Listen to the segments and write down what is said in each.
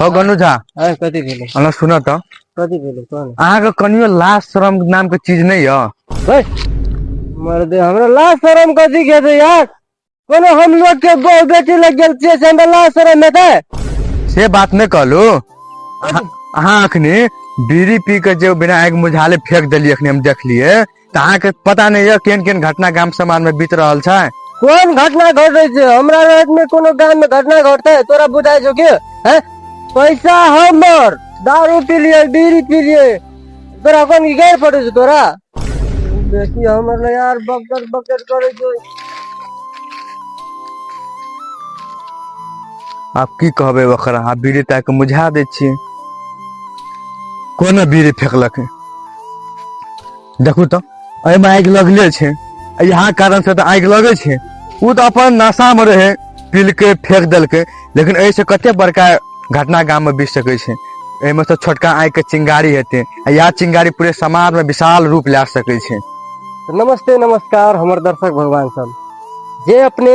हौ गनू झा अरे कथी भेलै हमरा सुनऽ तऽ कथी भेलै कह ने अहाँके कनियो लाज शरम नाम के चीज नहि यऽ बैठ मर्दे हमरा लाज शरम कथी के छै यार कोनो हम लोग के बहू बेटी लग गेल छियै से हमरा लाज शरम हेतै से बात नहि कहलू अहाँ अहाँ अखनी बीड़ी पी के जे विनायक मुझाले फेंक देलियै अखनी हम देखलियै तऽ अहाँके पता नहि यऽ केहन केहन घटना गाम समाज में बीत रहल छै कोन घटना घट रही छै हमरा रात में कोनो गांव में घटना घटते है तोरा बुझाय छौ के हैं पैसा हमर दारू पी लिए बीड़ी पी लिए तोरा कोन की गैर पड़े छौ तोरा बेटी हमर ले यार बकट बकट करे छौ आब की कहबै ओकरा आब बीड़ी ताकि मुझा दै छियै कोना बीड़ी फेकलक देखू तऽ एहिमे आगि लगले छै आ इएह कारण से तऽ आगि लगै छै ओ तऽ अपन नशामे रहै पीलके फेंक देलकै लेकिन एहिसँ कते बड़का घटना गाममे बीत सकै छै एहिमे से छोटका आगिके चिंगारी हेतै आ इएह चिंगारी पूरे समाजमे विशाल रूप लए सकै छै नमस्ते नमस्कार हमर दर्शक भगवान सब जे अपने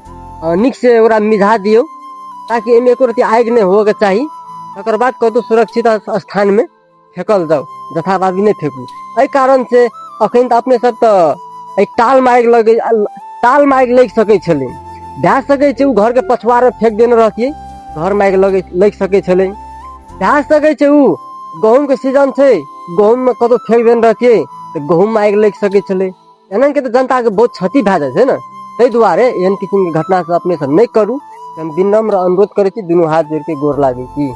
नीक से ओकरा मिझा दियौ ताकि एहिमे एको रति आगि नहि होबऽके चाही तकर बाद कतहु सुरक्षित स्थानमे फेकल जाउ जथाभावी नहि फेकू एहि कारण से अखन तऽ अपने सब तऽ एहि टाल मारि लगे टाल मारि लागि सकै छलै भए सकै छै ओ घरके पछुआर फेक देने रहतियै घर मारि लगे लागि सकै छलै भए सकै छै ओ गहूँमके सीजन छै गहूँममे कतहु फेक देने रहतियै तऽ गहूँम आगि लागि सकै छलै एहन के तऽ जनता के बहुत क्षति भए जाइ छै ने ताहि दुआरे एहन किसिम के घटना सब अपने सब नहि करू हम विनम्र अनुरोध करै छी दुनू हाथ जोड़ के गोर लागै छी